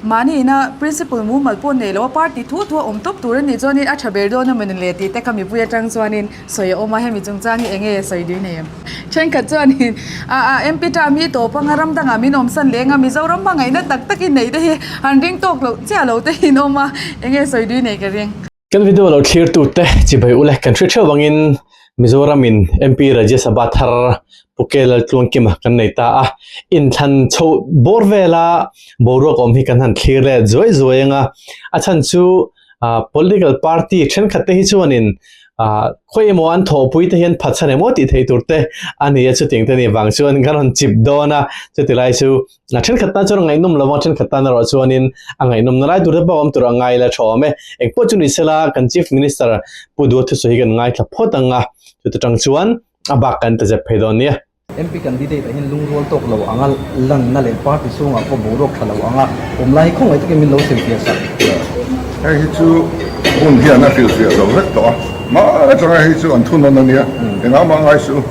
Mahni ina principle mumal pawh nei loh a party thuah thuah awm tawp tur a nih chuan in a tha ber dawn a mawni le tih te ka mipui atang chuan in sawi a awm a hemi chung chang hi eng nge sawi dui nei em. Thenkhat chuan in ah ah MP ta mi tawp anga ram dangah min awm san leh eng a Mizoram hmangaihna tak tak in nei te hi han ring tawk loh chiah lo te in awm a eng nge sawi dui nei ka ring. Kan video lo thlir tu te chi bai u le kan hre theuh ang in Mizoram in MP Rajya Sabha thar Pu K Laltluangkim a kan nei ta a in thlan chho bawr vel a boruak awm hi kan han thlir let zuai zuai ang a a chhan chu Political Party thenkhat te hi chuan in khawi emaw an thawhpui te hian phatsan emaw tih theih tur te a ni a chutiang te nih vang chuan kan rawn chip dawn a chuti lai chu a thenkhat tan chuan a ngaihnawm lo vang thenkhat tan erawh chuanin a ngaihnawmna lai tur te pawh awm tura ngai la thawm e engpawh chu ni sela kan chief minister pu duwa thusawi hi kan ngaithla phawt ang a chuti tang chuan a bak kan ta zep phei dawn nia. MP candidate ah hian lungrual tawk lo anga lanna leh party chhungah pawh boruak tha lo anga awm lai hi khawngaih takin min lo silpiasak. Hei hi chu hunfiahna hrilhfiah zo vek tawh a. Mah changa hei chu an thunawn a nia engah mah ngai suh u.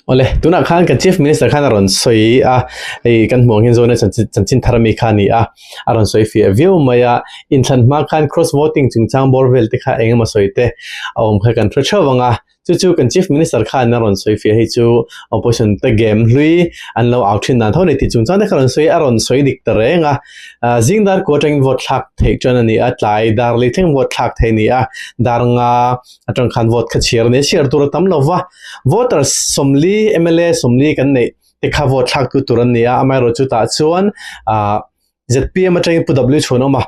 Awle tunah khan kan Chief Minister khan a rawn sawi a, hei kan hmuh ang hian Zona Chanchinthar ami kha a ni a, a rawn sawi fiah viau mai a, inthlan hma khan cross voting chungchang bawr vel te kha engemaw sawi te a awm kha kan hre theuh ang a, Chu chu kan Chief Minister khan a rawn sawi fiah hi chu Opposition te game hlui an lo au thin dan tho ni tih chung chuan te kha rawn sawi a rawn sawi dik ta reng a. Zingdar kua atangin vote thlak theih chuan a ni a, tlai dar leh thleng vote thlak thei a ni a, dar nga atang khan vote kha chhiar a ni a, chhiar tur a tam lo va, voters sawmli, mla sawmli kan neih te kha vote thlaktu tur an ni a, amaherawhchu tah chuan zpm atangin pu dawt lui chhun awm a,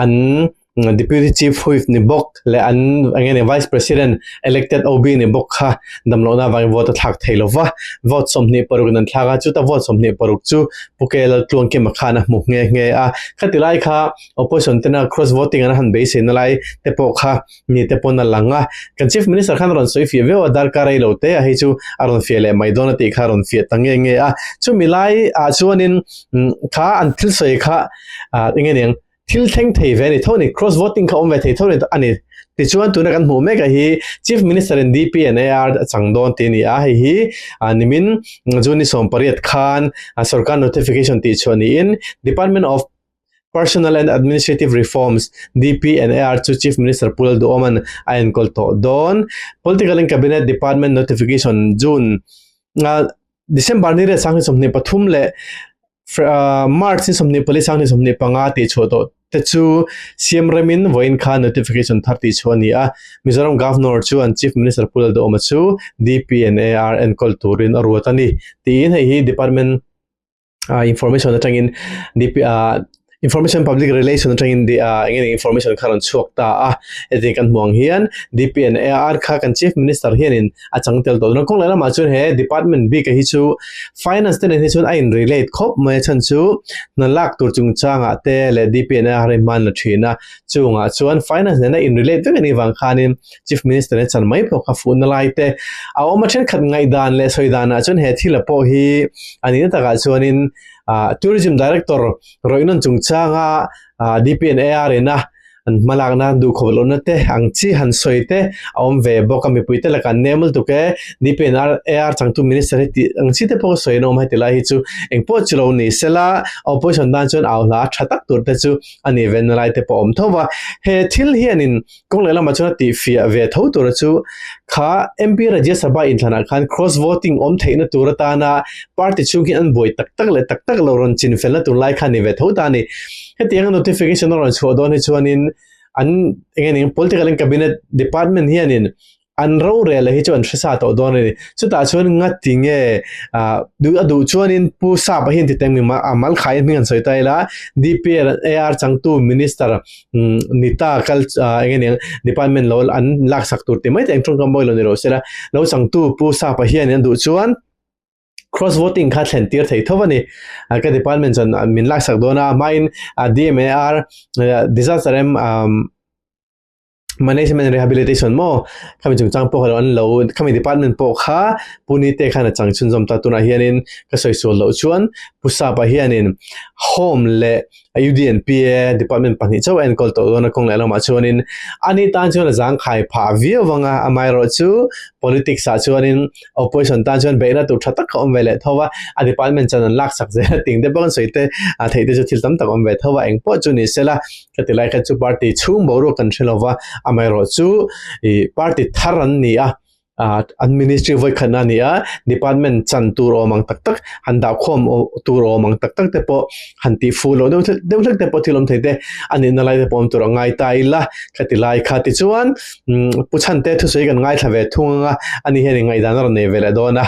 an Deputy Chief Whip ni bawk leh an enge nih Vice President Elected OB ni bawk kha damlohnaa vangin vote a thlak thei lo va, vote sawmhnih paruk in an thlak a, chuta vote sawmhnih paruk chu Pu KL Laltluangkima khan a hmu nghe nghe a, khati lai kha Opposition tena cross voting an han beisei na lai te pawh kha mi te pawn a lang a, kan Chief Minister khan a rawn sawi fiah viau a, darkar ei lo te a hi chu a rawn fiah leh mai dawn a tih kha a rawn fiah ta nge nge a, chumi lai ah chuan in kha an thil sawi kha ah eng nge eng thil thleng thei ve a ni tho a ni, cross voting kha awm ve thei tho a ni tichuan tuna kan hmuh mek ah hi Chief Minister in DPNAR a chang dawn tih a ni a, hei hi ah nimin June ni sawmpariat khan sorkar notification tih chhuah niin Department of Personal and Administrative Reforms, DPNAR, chu Chief Minister Pu Lalduawman a enkawl tawh dawn. Political and Cabinet Department Notification, June, a December ni reh sanghnih sawmhnih pathum leh March ni sawmhnih pali sanghnih sawmhnih panga tih chhuah tawh te chu Siam remin vawiin kha notification thar tih chhuah a ni a. Mizoram Governor chuan Chief Minister Pu Lalduawma chu DPNAR enkawl turin a ruat a ni tiin hei hi Department ah information atangin dip ah information public relation atangin di ah enge ni information kha rawn chhuak ta a heti kan hmuh ang hian dpn ar kha kan chief minister hianin a chang tel tawh chuan kawng lai lamah chuan he department bik a hi chu finance te nen hi chuan a in relate khawp mai a chhan chu hna lak tur chung changah te leh dpn ar hi hmanla thin a chungah chuan finance nena in relate vek a nih vang khanin Chief Minister e chan mai pawh kha fuhna lai te a awm a thenkhat ngaihdan leh sawidanah chuan he thila pawh hi a nihna takah chuanin Tourism Director Roynon chungchanga DPN ARN a an hmalakna duh khawp lohna te ang chi han sawi te a awm ve bawk a mipui te lakah nem lutuk e DPN AR changtu Minister hi tih ang chi te pawh sawi an awm a heti lai hi chu engpawh chu lo ni se la Opposition tan chuan au hla a tha tak tur te chu a nih venna lai te pawh a awm tho va he thil hianin Kawng leh lama chuan a tihfiah ve tho tura chu kha MP Rajya Sabha inthlanah khan cross voting awm theihna tur atana party chhung hi an buai tak tak leh tak tak lo rawn chinfelna tur lai kha a ni ve tho ta a ni. Hetiang a notification a rawn chhuah dawn hi chuanin an engin political in cabinet department hianin an ro reh la hi chu an hresa tawh dawn a ni chutah chuan nga ti nge a duh a duh chuan in pu sap a hian titan mi a malkhai in hming an sawi ta ila dpl ar changtu minister nita kal eng nge ning department lo an lak sak tur ti mai te ang tawng ka mawi lo ni lo sela lo changtu pu sap a hian an duh chuan cross voting kha thlen tir thei thova ni ka department chan min lak sak dawn a hmain dmar disaster em management and rehabilitation maw khami chungchang pawh an lo khami department pawh kha puni te khan a chang chhun zawm ta tunah hianin ka sawisawl loh chuan pusapa hianin home le UDNPA department pahnih chauh en call tawh dawn a kawng leh lamah chuanin ani tan chuan a zangkhai phah viau vanga amaerawh chu politics ah chuanin opposition tan chuan beihna tur tha tak ka awm ve leh tho a a department chan an laksak zel a ting te pawh kan sawi te a theih te chu thil tam tak awm ve tho a eng pawh chu ni sela Heti lai khan chu party chhung boruak kan hre lova, amaherawh chu i party thar an ni a, an ministry vawikhatna a ni a, department chan tur awm ang tak tak, han dahkhawm tur awm ang tak tak te pawh han tihfu loh deuh hlek deuh hlek te pawh thilawm thei te a nihna lai te pawh awm tur a ngai ta ila, khati lai kha tichuan pu chhante thusawi kan ngaithla ve thung anga ani hian ingaihdan a rawn nei ve leh dawn a.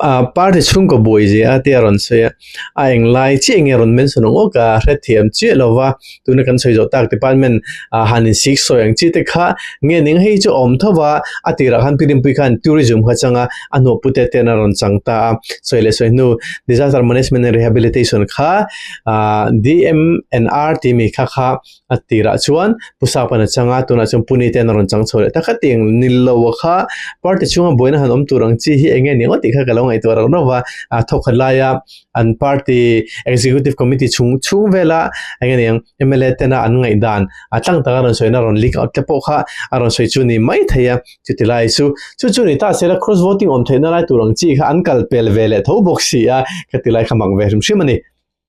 Ahh party chhungkaw buai zia te a rawn sawi a, a eng lai chiah nge a rawn mention ang awk a, hrethiam chiah lo va, tuna kan sawi zawh tak department ahh han in sik sawi ang chi te kha, nge ning hei chu a awm tho va, a tirah khan pirimpuii khan tourism kha chang a, a hnawh pute te an rawn chang ta a, sawi leh sawi hnu disaster management and rehabilitation kha ahh DMNR tih mi kha kha A tirah chuan Pu Sakpan a chang a, tunah chuan Pu Ni te an rawn chang chho leh ta khat eng. Nilo a kha party chhunga buaina han awm tur ang chi hi enge ni ngawt tih kha ka lo ngaihtuah rauh rauh a, a thawk khat laia an party executive committee chhung chhung vela enge ni ang mla tena an ngaih dan a tlang taka rawn sawina rawn link out te pawh kha a rawn sawi chu ni mai thei a, chuti lai chu chu chu ni ta sela cross voting awm theihna lai tur ang chi kha an kal pel veleh tho bawk si a, ka ti lai kha mak ve hrim hrim a ni.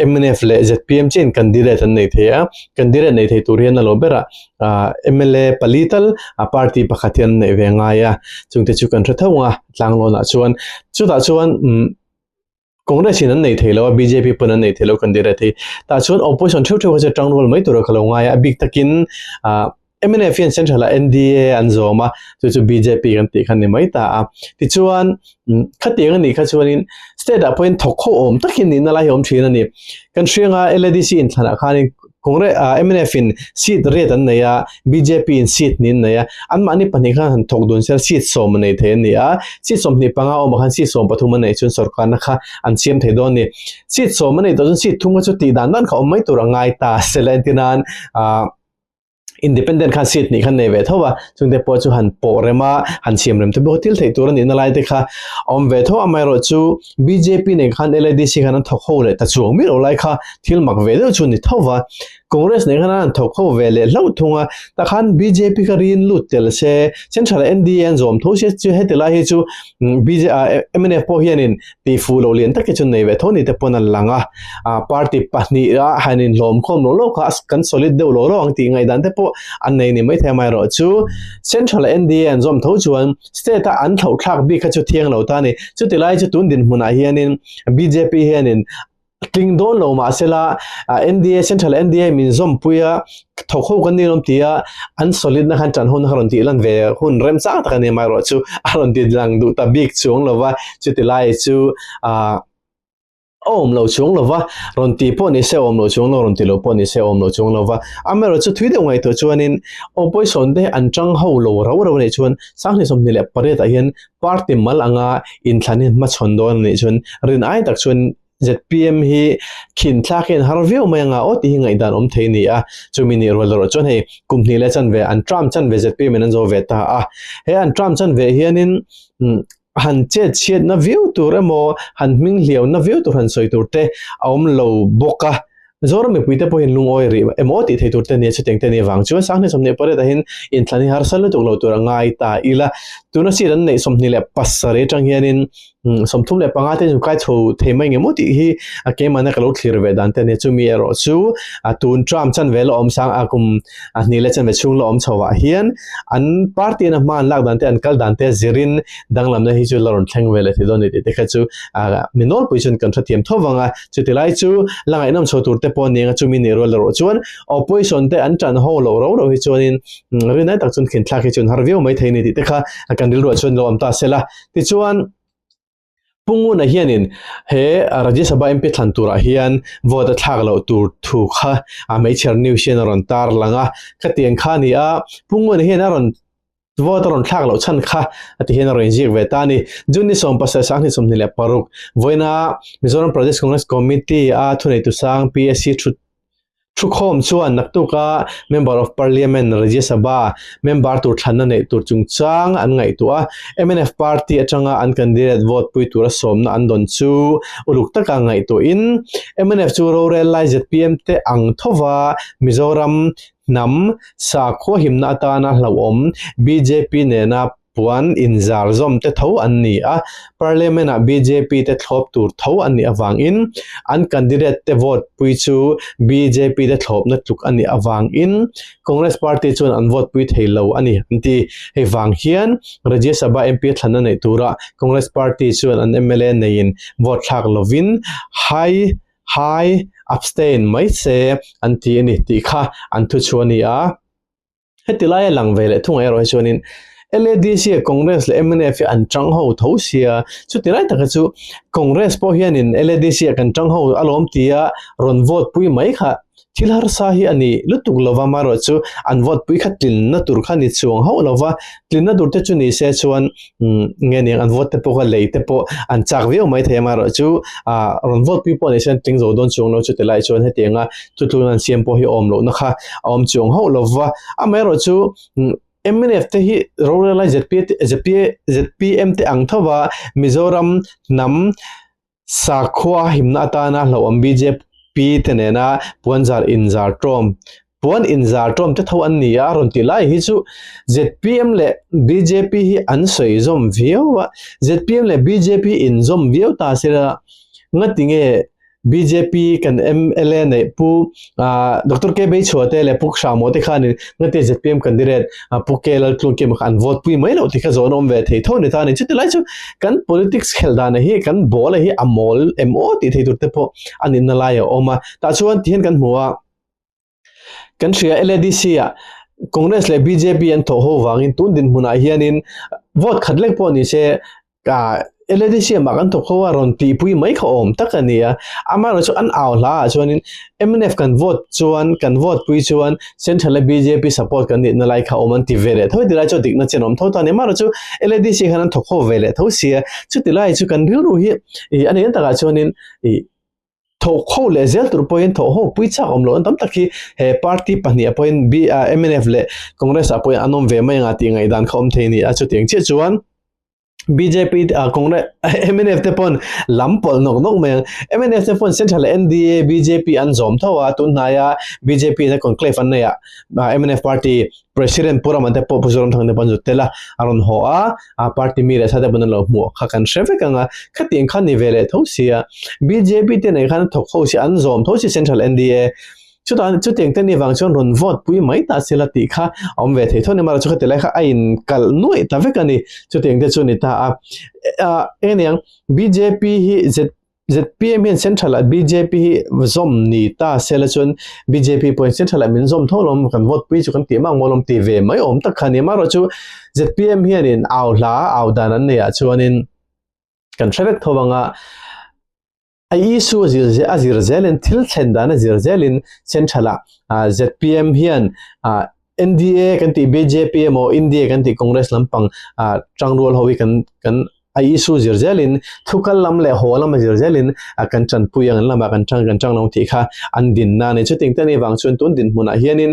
MNF leh zpm chiahin candidate an nei thei a, candidate nei thei tur hian a lo berah mla pali tal party pakhat hian an neih ve ngai a, chungte chu kan hre tho ang a, Tlanglawnah chuan chutah chuan Congress in an nei thei lo a, bjp pawn an nei thei lo candidate hi, tah chuan opposition theuh theuh kha chu a ṭangrawl mai tur a ka lo ngai a, a bik takin. MNF hian Central ah NDA an zawm a, chu chu bjp kan tih khan ni mai ta a. Tichuan khati eng a nih kha chuanin State ah pawhin thawkhaw awm tak hi nihna lai hi awm thin a ni. Kan hrianga LADC inthlanah khanin Congress ah MNF in seat riat an nei a, bjp in seat ni an nei a, an mahni pahnih khan han thawk dun sel seat sawm a nei thei a ni a. Seat sawmhnih panga awmah khan seat sawm pathum an neih chuan sawrkarna kha an siam thei dawn a ni. Seat sawm a neih tawh chuan seat thum kha chu tih dan dan kha awm mai tur a ngai ta sela entirnan ahh. independent khan seat hnih khan nei ve tho a chungte pawh chu han pawh rem a han siam rem te bawk a thil theih tur a nihna lai te kha a awm ve tho amaherawh chu bjp nen khan ladc khan an thawk ho leh ta chuang miah loh lai kha thil mak ve deuh chu a ni tho va congress nen khan an thawk ho ve leh hlauh thung a ta khan bjp kha rin lut tel se chen tha leh nda an zawm tho se heti lai hi chu bj a mnf pawh hian in pi fu lo lian tak hi chu nei ve tho ni te pawn a lang a a party pahnih a han in hlawm khawm loh loh kha kan solid deuh loh loh ang tih ngaihdan te pawh a nei ni maithei amah erawh chu central nda an zawm tho chuan state a an thlauh thlak bik kha chu thiang lo ta a ni chuti lai chu tun dinhmunah hian in bjp hian in Tling dawn lo mah se la, NDA, Central NDA min zawmpui a, tho kho kan ni lawm ti a, an solid na khan tanho na kha rawn tih lan ve hun rem chang tak a ni amaherawh chu a rawn ti lang duh ta bik chuang lo va, chuti lai chu aah a awm lo chuang lo va, rawn tih pawh ni se a awm lo chuang lo, rawn ti lo pawh ni se a awm lo chuang lo va, amaherawh chu thui deuh ngaihtuah chuanin opposition te an tang ho lo rau rau a nih chuan sanghnih sawmhnih leh pariat ah hian Party mal anga inthlan hi hmachhawn dawn a nih chuan rin ai tak chuan zpm hi khin thlak hi an har viau mai anga aw tih hi ngaihdan awm thei a ni a, chumi nih rual erawh chuan hei kum hnih leh chanve an tram chan ve zpm in an zo ve ta a, he an tram chan ve hianin han chetchhiatna viau tur emaw han hming hliauna viau tur han sawi tur te a awm lo bawk a, Zoram mipui te pawhin lungawi rih emaw tih thei tur te nia chuteng te nih vang chuan sanghnih sawmhnih pariat ah hin inthlan hi harsat lutuk lo tur a ngai ta ila. Tuna sir an neih sawmhnih leh pasarih atang hian in sawm thum leh panga te chu kai chho thei mai ngemaw tih hi a keimah na ka lo thlir ve dan te nia chumi erawh chu a tun Trump chanve la awm sang a kum a hnih leh chanve chhung la awm chho ah hian an party in a hma an lak dan te an kal dan te zir in danglam na hi chu la rawn thleng ve leh theih dawn a ni tih te kha chu a mi nawlpui chuan kan hrethiam tho vang a. Chutilai chu la ngaihnawm chho tur te pawh ning a chumi nih rual rawh chuan opposition te an ṭan ho loh rau rau hi chuanin rinai tak chuan khinthlak hi chu an har viau mai thei a ni tih te kha kan rilruah chuan lo awm ta se la. Tichuan Punguna hianin he Rajya Sabha MP thlan turah hian vote a thlak loh tur thu kha a hmeichher news hian a rawn tar lang a, khatiang kha a ni a, Punguna hian a rawn Vote a rawn thlak loh chhan kha a ti hian a rawn inziak ve ta a ni. June ni sawm pasal sang hnih sawm hnih leh paruk vawiina Mizoram Pradesh Congress Committee a thuneitu sang PAC thu thu khawm chuan naktuka Member of Parliament, Rajya Sabha, member tur thlanna neih tur chungchang an ngaihtuah a, MNF party atanga an candidate vote pui tura sawmna an dawn chu uluk taka ngaihtuahin MNF chu rorel lai zpm te ang thova Mizoram Hnam, sakhua himna atana hlauhawm bjp nena puan inzar zawm te tho an ni a, Parliament ah bjp te thlawp tur tho a nih avangin an candidate te vote pui chu bjp te thlawpna tluk a nih avangin Congress Party chuan an vote pui thei lo a ni an ti. Hei vang hian Rajya Sabha MP thlanna neih tura Congress Party chuan an mla neiin vote thlak lovin High Hi, abstain mai se an ti a ni tih kha an thu chu a ni a. Heti laia lang ve leh thung erawh hi chuanin LADC, Congress leh mnf hi an chang ho tho sia. Chuti lai taka chu Congress pawh hianin LADC-a kan chang ho alawm tia rawn vote pui mai kha Thil harsa hi a nih lutuk lo va, marawh chu an vote pui kha tlinna tur kha ni chuang hauh lo va, tlinna tur te chu ni se chuan nge ning an vote te pawh kha lei te pawh an chak viau mai thei a, marawh chu rawn vote pui pawh ni se an tling zo dawn chuang lo chute lai chuan heti anga chu tluna an siam pawh hi awm lohna kha a awm chuang hauh lo va, amaherawh chu mnf te hi rorel ai zpm te ang thova Mizoram hnam Sakhua himna atana hlauhawm bjp te nena puanzar inzar tawm, puan inzar tawm te tho an ni a rawn tih lai hi chu zpm leh bjp hi an sawi zawm viau a, zpm leh bjp inzawm viau ta sela ngatinge bjp kan mla neih pu Ahh Doctor K Beichhuah te leh Puk Hramawh te khan in Ngati zpm candidate Pu K Laltlungkim kha an vote pui mai lo tih kha zawhna awm ve thei tho ni ta ni. Chutihlai chu kan politics khel dana hi kan ball-a hi a mawl em aw tih thei tur te pawh a nihna lai a awm a. Tah chuan tihian kan hmu a, kan hria LADC-ah Congress leh bjp an thawh ho vangin tun dinhmunah hianin vote khat lek pawh ni se Ka Eledesiam ah kan thawk kho a, rawn tihpui mai kha awm tak a ni a, amaherawhchu an au hla ah chuanin mnf kan vote chuan, kan vote pui chuan central a bjp support kan nihna lai kha awm an ti ve leh tho, tilai chu dikna chin awm tho ta a ni, amaherawhchu Eledesiam hian an thawk kho ve leh tho si a, chutihlai chu kan rilru hi ih a ni ang takah chuanin ih. Tho kho leh zel tur pawhin tho ho pui chak awm loh na tam tak hi he party pahnih ah pawhin mnf leh congress ah pawhin an awm ve mai ang a tih ngaih dan kha awm thei a ni a. Chutiang chiah chuan bjp ah congress mnf te pawhin lam pawlh nawk nawk mai ang. Mnf te pawhin central ah nda bjp an zawm tho a, tunhnai a bjp in a conclave an nei ah mnf party President pu ram te pawh pu Zoramthang te pawh an zut tel a, a rawn haw a, a party mi leh sa te pawn an lo hmuh kha kan hre vek ang a, khati ang khan ni ve leh tho si a, bjp te nei khan a thawk ho si, an zawm tho si central NDA chutah chutiang te ni vang chuan rawn vote pui mai ta sila tih kha a awm ve thei tho nia, mara chu khati lai kha a in kal nuaih ta vek a ni, chutiang te chu a ni ta a, eng niang bjp hi zet zpm hian central ah bjp hi zawm ni ta se la chuan bjp pawhin central ah min zawm tho lo maw kan vote pui chu kan tih mak maw lawm tih ve mai awm tak kha a ni a amaherawh chu zpm hianin au hla au dan an nei ah chuanin kan hre vek tho anga a issue a zir a zir zelin thil thlen dan a zir zelin central ah zpm hian NDA kan tih BJP emaw India kan tih Congress lampang ah tang rual ho hi kan kan a issue zir zel in thu kal lam leh haw lam a zir zel in a kan tanpui ang an lam ah kan tang kan tang lo ang tih kha an din na ni chuting te ni vang chuan tun din hmun ah hian in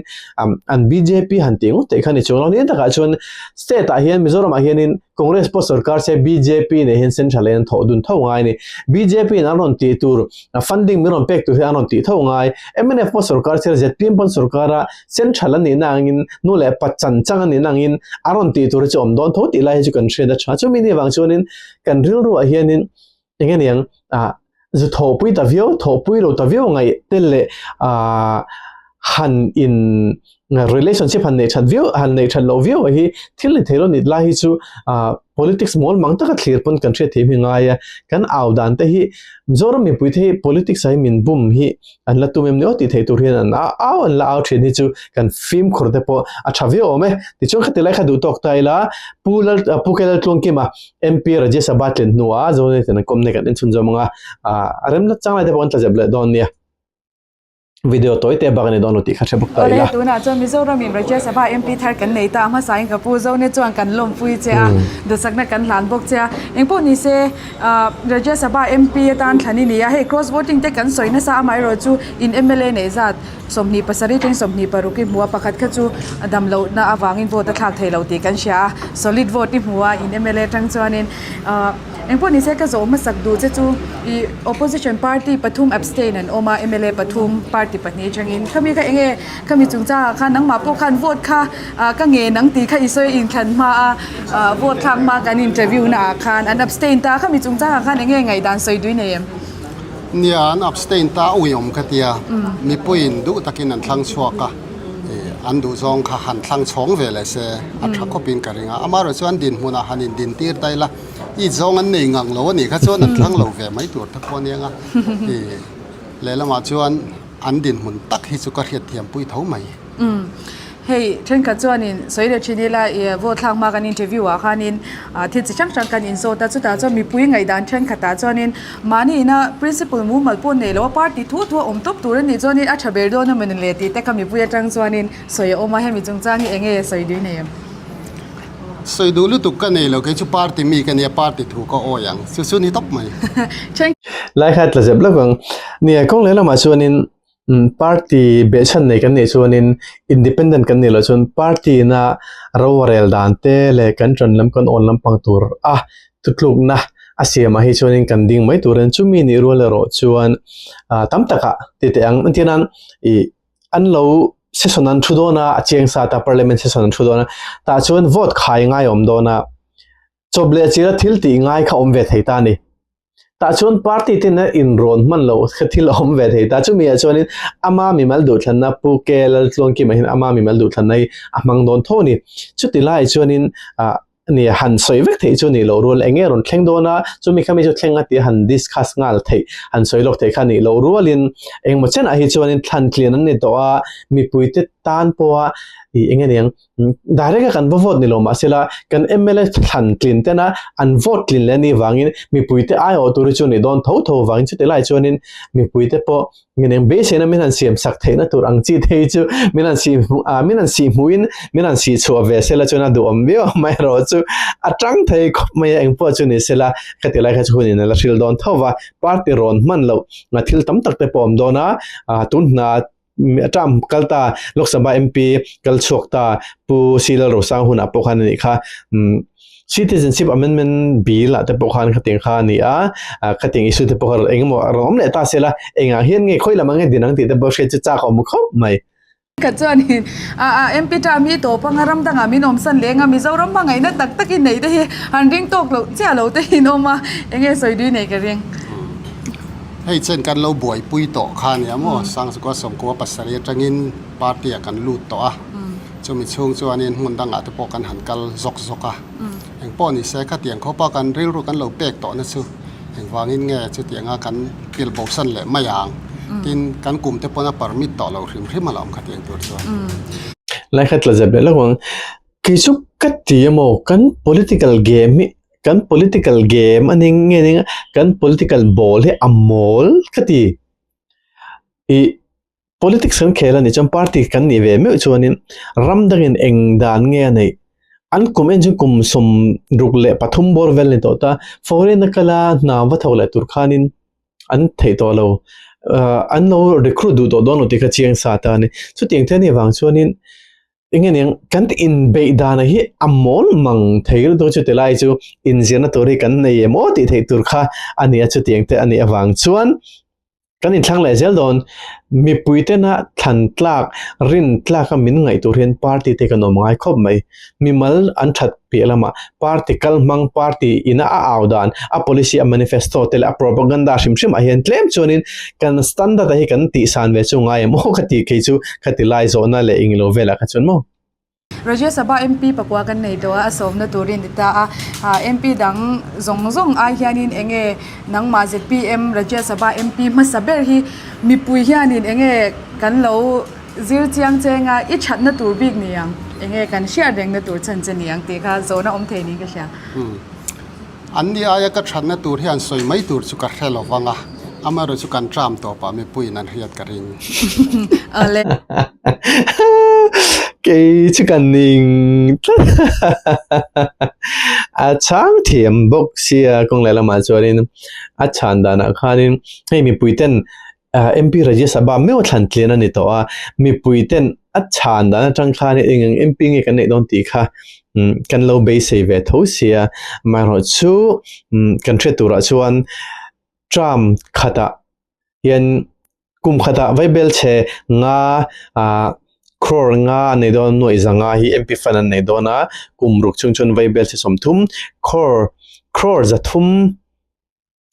an BJP han tih ngawt theih kha ni chung lo ni awm tak ah chuan state ah hian Mizoram ah hian in Congress pawh sorkar se bjp nei hian sen tha leh an thawh dun tho ngai a ni. Bjp in an rawn tih tur funding min rawn pek tur hi an rawn tih tho ngai. Mnf pawh sorkar se ztm pawn sorkar a sen tha la nihna angin nu leh pa chan chang a nihna angin a rawn tih tur hi chu awm dawn tho tih lai hi chu kan hriat a tha. Chumi ni vang chuan in kan rilru ah hian in eng nge niang a zu tho pui ta viau tho pui lo ta viau ngai te le a han in relationship han nei that viau han nei that lo viau a hi thil ni thei lo nih lai hi chu a politics mawl mang taka thlir pawn kan hriat theih hi ngai a kan au dan te hi mizoram mipui te hi politics ah hian min bum hi An la tum em ni aw tih theih tur hian an a au an la au thin hi chu kan fimkhur te pawh a tha viau awm e. Tichuan khati lai kha duh tawk ta ila Pu Lal Pu K-Lal Tlawngkima MP Rajesha Ba tlen hnua Zone ten an kawmna hi kan en chhun zawm ang a, a rem nat chang lai te pawh an tla zep leh dawn nia. Video tawi teh bak a ni dawn lo tih kha hre bawk ta ila. Awle, tunah chuan Mizoram in Rajesha Ba MP thar kan nei ta a, hmasain ka Pu Zone chuan kan lawmpui che a, duhsakna kan hlan bawk che a. Engpawh ni se. Ahh Rajya Sabha MP atan thla ni nia hei cross voting te kan sawi nasa amaherawh chu in mla nei zat sawmhnih pasarih ten sawmhnih paruk i hmu a pakhat kha chu damlohna avangin vote a thlak theih loh tih kan hria a solid vote i hmu a in mla atang chuanin ahh engpawh nise ka zawh hmasak duh che chu ih opposition party pathum abstain an awm a mla pathum party pahnih atangin khami kha eng nge khami chungchang ah khan nangmah pawh khan vote kha-- A ka nge nang tih kha i sawi in thlan hma a, vote thlak hma kan interview na ah khan an abstain ta a, khami chung chang ah khan eng nge ngaihdan sawi dui nei em? Nia an abstain ta a uiawm ka tia, mipui in duh tak in an thlang chhuak a, an duh zawng kha han thlang chhawng ve leh se a tha khawp in ka ring a, amaherawh chu an din hmun ah han in din tir ta ila, i zawng an nei ngang lo a nih kha chuan an thlang lo ve mai tur te pawh a ni ang a, lehlamah chuan an din hmun tak hi chu ka hriat thiam pui tho mai. Umm hei thenkhat chuanin sawi leh thin ila vote thlak hma kan interview ah khanin thil chi hrang hrang kan insawt a chutah chuan mipui ngaidân thenkhatah chuanin mahniina principle mumal pawh nei loh a party thu thu a awm tawp tur anih chuanin a tha ber dawn a mawni le tih te ka mipui atang chuanin sawi a awm a hemi chungchang hi enge sawi duh nei ang? Sawi duh lutuk ka nei lo, kei chu party mi ka nia party thu ka awih ang chu chu ni tawp mai. Laikha tla zep lak ang nia kawng lehlamah chuanin Party behchhan nei kan nih chuanin independent kan nih loh chuan party ina rovarel dan te leh kan ṭanlam kan awn lampang tur a thutlukna a siamah hi chuanin kan ding mai tur a nen. Chumi nih rual erawh chuan tam takah ti teh ang. Engtin anan ih an lo session an thu dawn a, a cheng sat a, parliament session an thu dawn a, tah chuan vote khai ngai a awm dawn a, chawp leh chil a thil tih ngai kha awm ve thei ta a ni. ta chun party tin a in rawn hman lo kha thil awm ve thei ta chumi ah chuan in ama mi mal duh thlanna pu ke lal tluan kim ah hin ama mi mal duh thlanna hi a hmang dawn tho ni chuti lai chuan in ah ni han sawi vek thei chu nilo rual eng nge rawn thleng dawn a chumi kha mi chu thleng atia han discuss nghal thei han sawi lawk thei kha nih loh rual in engmaw chiah ah hi chuan in thlan tlian an ni tawh a mipui te tan pawh a ih eng nge niang Direct a kan va vote ni lo mah sela kan MLA thlan tlin tena an vote tlin leh ni vangin mipui te ai awh tur hi chu ni dawn tho tho vangin chute lai chuanin mipui te pawh min eng beiseina min han siam sak theihna tur ang chi te hi chu min han si a min han si hmuhin min han si chhuah ve sela chuan a duhawm viau mai erawh chu a tang thei khawp mai a engpawh chu ni sela ka ti lai kha chu hun in a la hril dawn tho va party rawn hman loh thil tam tak te pawh awm dawn a tunhna Mi a tah kal ta Lok Sabha MP kal chhuak ta Pu Sri Lalrosang hunah pawh khan a nih kha. Citizenship Amendment Bill ah te pawh khan khatiang kha a ni a, khatiang issue te pawh kha eng emaw a rawn awm leh ta sela engah hian nge khawi lamah nge din ang tih te pawh hriat chu chak a awm khawp mai. Kha chuanin a a MP tah mi tawp anga ram dangah min awm san leh eng a, Mizoram hmangaihna tak takin nei te hi han ring tawk loh chiah lo tehin awm a, enge sawi dui nei ka ring. Hei chuan kan lo buaipui tawh kha nia maw, Sangchukua Sawmkua pasarih atangin party a kan lut tawh a, chumi chhung chuanin hmun dangah te pawh kan han kal zawk zawk a, engpawh ni se khatiang khawpa kan rilru kan lo pek tawhna chu engvangin nge chutianga kan tel bohsan leh mai ang, tin kan kum te pawna permit tawh lo hrim hrim a la awm khatiang tur chuan. Lai kha tla zet leh lo ang, kei chu ka ti emaw kan political game hi kan political game a ning nge ning a kan political ball hi a mawl tlat i ih politics kan khel a nih chuan party kan nih ve meuh chuanin ram dangin eng dan nge a neih an kum en chu kum sawm ruk leh pathum bawr vel a ni tawh ta foreign a kal a hna va tho leh tur khanin an theih tawh lo an lo recruit duh tawh dawn lo tih kha a chiang sa ta a ni chutiang te hi vang chuanin. Enge niang kan ti in bei dana hi amol mang thei ru dawng chu te lai chu in ziana tur hi kan nei emaw tih thei tur kha ania chu tiang te ani avang chuan kan in thlang leh zel don mipui te na thlan tlak rin tlak a min ngai tur hian party te kan awm ngai khawp mai mimal an that Piah lamah, party kal hmang, party ina a au dan, a policy, a manifesto te leh a propaganda hrim hrim ah hian tlem chuanin kan standard a hi kan tih san ve chu a ngai emaw ka tih khi chu kha ti lai zawhna leh ing lo velah kha chuan maw. Rajya Sabha MP pakua kan nei tawh a, a sawmna turin ni ta a, MP dang zawng zawng ai hianin eng nge nangmah zpm Rajya Sabha MP hmasa ber hi mipui hianin eng nge kan lo Zir chiang chenga i thatna tur bik ni ang, eng nge kan hriat rengna tur chan che ni ang tih kha zawhna awm thei niin ka hria. An ni aia ka thatna tur hian sawi mai tur chu ka hre lo vang a, amaherawh chu kan ṭam tawp a, mipuiin an hriat ka ring. Awle. Kei chu ka ning a chang thiam bawk sia, kawng lehlamah chuanin a chhan danah khanin hei mipuiten MP Rajesh a bam meuh thlan tlian a ni tawh a, mipui ten a chhan dan atang khan hei eng eng MP nge kan neih dawn tih kha kan lo beisei ve tho si a, amaherawh chu kan hriat turah chuan term khatah hian kum khatah vai bel che nga crore nga a nei dawn a, nuaih za nga hi MP fan an nei dawn a, kum ruk chung chuan vai bel che sawmthum crore, crore za thum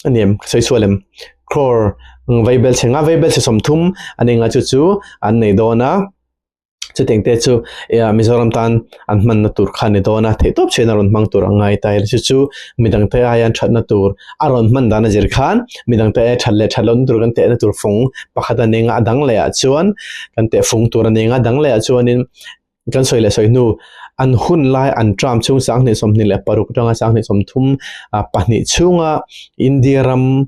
Anem, ka sawi sual em? Crore, Umm, vei bel che nga, vei bel che sawmthum a ni nga chu chu an nei dawn a, chutiang te chu Mizoram tan an hmanna tur kha a ni dawn a, theihtawp chhiahna rawn hmang tur a ngai ta ila chu chu midang te aian thatna tur a rawn hman dan a zir khan midang te aia that leh that loh na tur kan tehna tur fawng pakhat a ni nga a dang leh ah chuan kan teh fung tur a ni nga a dang leh ah chuan in Kan sawi leh sawi hnu, an hun lai an term chhung sang hnih sawmhnih leh paruk tanga sang hnih sawmthum pahnih chhunga India ram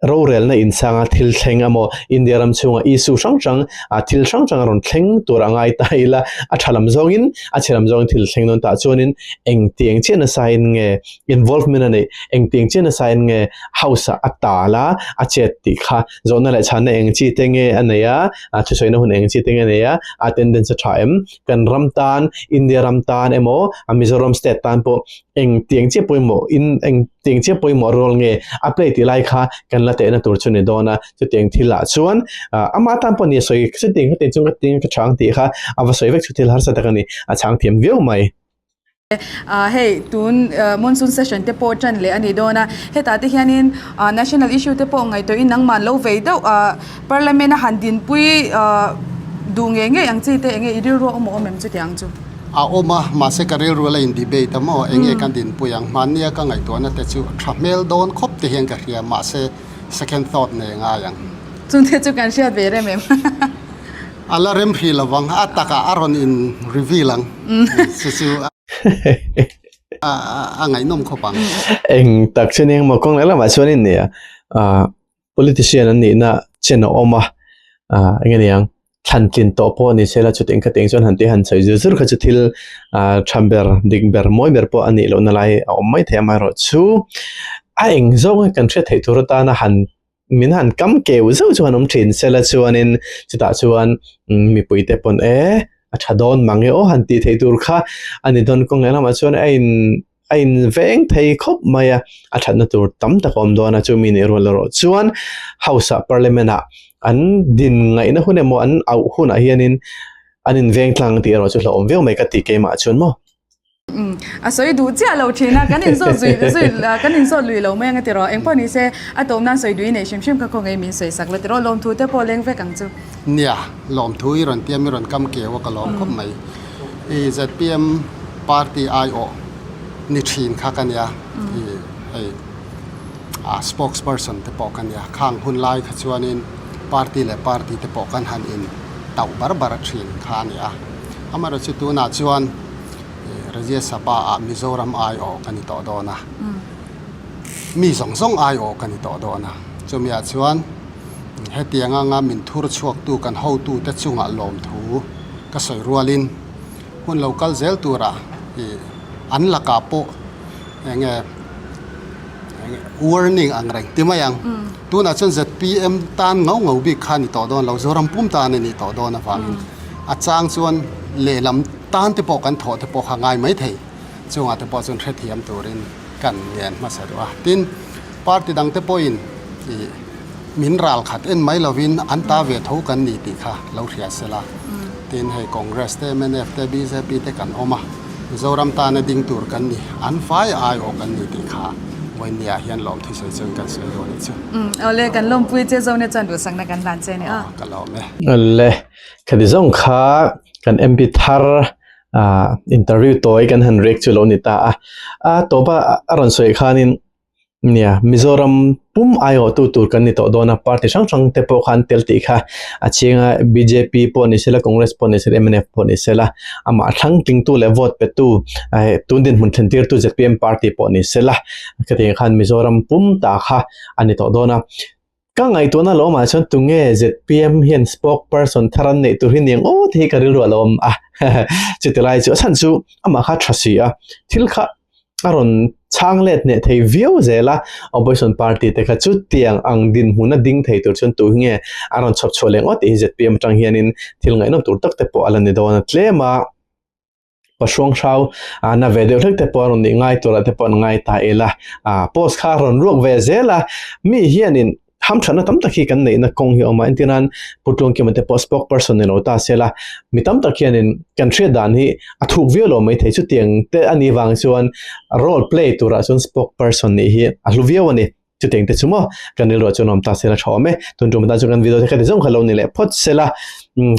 rorelna insanga thil thleng emaw India ram chhunga issue hrang hrang thil hrang hrang a rawn thleng tur a ngai ta ila a tha lam zawngin a chhe lam zawngin thil thleng dawn tah chuanin engtiang chiah nasain nge involvement a neih engtiang chiah nasain nge House-ah a tal a a chet tih kha zawhna leh chhanna eng chi te nge a nei a, a thusawiina hun eng chi te nge a nei a, attendance a tha em? Kan ram tan, India ram tan emaw, a Mizoram state tan pawh eng tiang chiah pawimawh in eng tiang chiah pawimawh role nge a play tih lai kha kan la tehna tur chu ni dawn a, chuti ang thil ah chuan ah amah tan pawh a ni a, sawi chuti ang kha tiang chuan ka tih ang tih kha a va sawi vek chhuthil harsat tak a ni, a chhang thiam viau mai. Ahh hei tun monsoon session te pawh tan leh a ni dawn a, hetah te hianin ahh national issue te pawh ngaihtuahin nangman lo vei deuh ahh parliament a han dinpui ahh duh ngei ngei ang chi te eng nge i rilru a awm a awm em chutiang chu? A awm a, mahse ka rilru la indebate a maw eng nge kan dinpui ang, hmannia ka ngaihtuahna te chu tha hmel dawn khawp te hian ka hria mahse second thought nei a ngai ang. Chungte chu kan hriat ve rem em? A la remhri lovang a takah a rawn in reveal ang chu chu a ngaihnawm khawp ang. Eng tak chin engemaw kawng leh lamah chuan in nia politician an nihna chin a awm a eng a niang thlan tlin tawh pawh a ni sela chute engkhat te ang chuan han ti han sawi zur zur kha chu thil tham ber dik ber mawi ber pawh a nih lohna lai a awm mai thei amaherawhchu a eng zawng kan hriat theih tur atana han min han kam keu zeuh chu han awm thin sela chuanin chutah chuan mipuite pawn e a tha dawn mang e aw han tih theih tur kha a ni dawn kawng lehlamah chuan a in a in veng thei khawp mai a a thatna tur tam tak a awm dawn a chumi nih rua loh chuan house ah parliament ah an din ngaihna hun emaw an auh hunah hianin an inveng tlang tih erawh chu hlauhawm viau mai ka ti keimah chuan maw. A sawi duh chiah lo thin a, kan insawt zui zui kan insawt lui lo mai anga ti rawh. Engpawh ni se a tawp nan sawi duhih nei hrim hrim kha khawngaih min sawi sak la ti rawh. Lawmthu te pawh leng vek ang chu. Nia, lawmthu i rawn tiam i rawn kam keu a ka lawm khawp mai. I zpm party aiawh ni thin kha ka nia, i hei a spokesperson te pawh ka nia. Khang hun lai kha chuanin party leh party te pawh kan han in tauh bar bar thin kha a ni a. Amaherawhchu tunah chuan. Rajya Sabha ah Mizoram aiawh ka ni tawh dawn a, mi zawng zawng aiawh ka ni tawh dawn a, chumi ah chuan hetiang anga min thur chhuak tu kan ho tu te chungah lawm thu ka sawi rual in hun lo kal zel tur ah an lakah pawh eng nge warning ang reng ti mai ang, tunah chuan zpm tan ngau ngau bik kha a ni tawh dawn lo, Zoram pum tan a ni tawh dawn avangin a chang chuan lehlam. Tan te pawh kan thawh te pawh kha ngai mai thei chungah te pawh chuan hrethiam turin ka an ngen hmasa duh a. Tin, party dang te pawhin i min ral khat en mai lovin an ta ve tho kan ni tih kha lo hria sel a. Tin, hei Congress te, mnf te, bjp te kan awm a, Mizoram tana ding tur kan ni, an vai ai aw kan ni tih kha Vawinia hian lawm thusawi chawin kan sawi dawn anih chu. Awle, kan lawmpui che zawk nia chuan duhsakna kan hlan che ania. Aww, ka lawm e. Awle. Kha ti zawng kha kan MP thar interview tawi kan han rek chu lo ni ta a. A tawpa a rawn sawi khanin nia Mizoram pum aiawhtu tur kan ni tawh dawn a, party hrang hrang te pawh khan tel tih kha a chhinga bjp pawh ni sela Congress pawh ni sela MNF pawh ni sela amah thlang tlingtu leh vote petu tun dinhmun thlentirtu zpm party pawh ni sela hetiang khan Mizoram pum ta kha a ni tawh dawn a. Ka ngaihtuahna a la awm ah chuan tunge zpm hian spokesperson thar an neih tur hi ni ang aw tih hi ka rilru a la awm a, chutihlai chu a chhan chu amah kha tha si a, thil kha a rawn chhang let hneh thei viau zel a, opposition party te kha chutiang ang dinhmun a ding thei tur chuan tuhi nge a rawn chhawp chhuah leh ngawt tih hi zpm atang hianin thil ngaihnawm tur tak te pawh a la ni dawn a tlem a. Pa Hruanghrau a na ve deuh hlek te pawh a rawn nih ngai turah te pawh an ngai ta el a, a post kha a rawn ruak ve zel a, mi hianin hamthatna tam tak hi kan neihna kawng hi a awm a, entir nan Pu Tluangkima te pawh spokesperson ni lo ta sela, mi tam tak hianin kan hriat dan hi a thuk viau lo mai thei chutiang te a nih vang chuan role play turah chuan spokesperson nih hi a hlu viau a ni. Chutiang te chu maw kan rilruah chu nuam ta sela tha awm e, tun tumah tan chuan kan video te khati zawng kha lo ni leh phawt sela,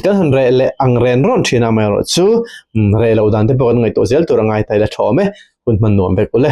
kan han reh leh ang ren rawn thin ah amaherawh chu reh loh dan te pawh kan ngaihtuah zel tur a ngai ta ila tha awm e, hun hman nuam vek ule.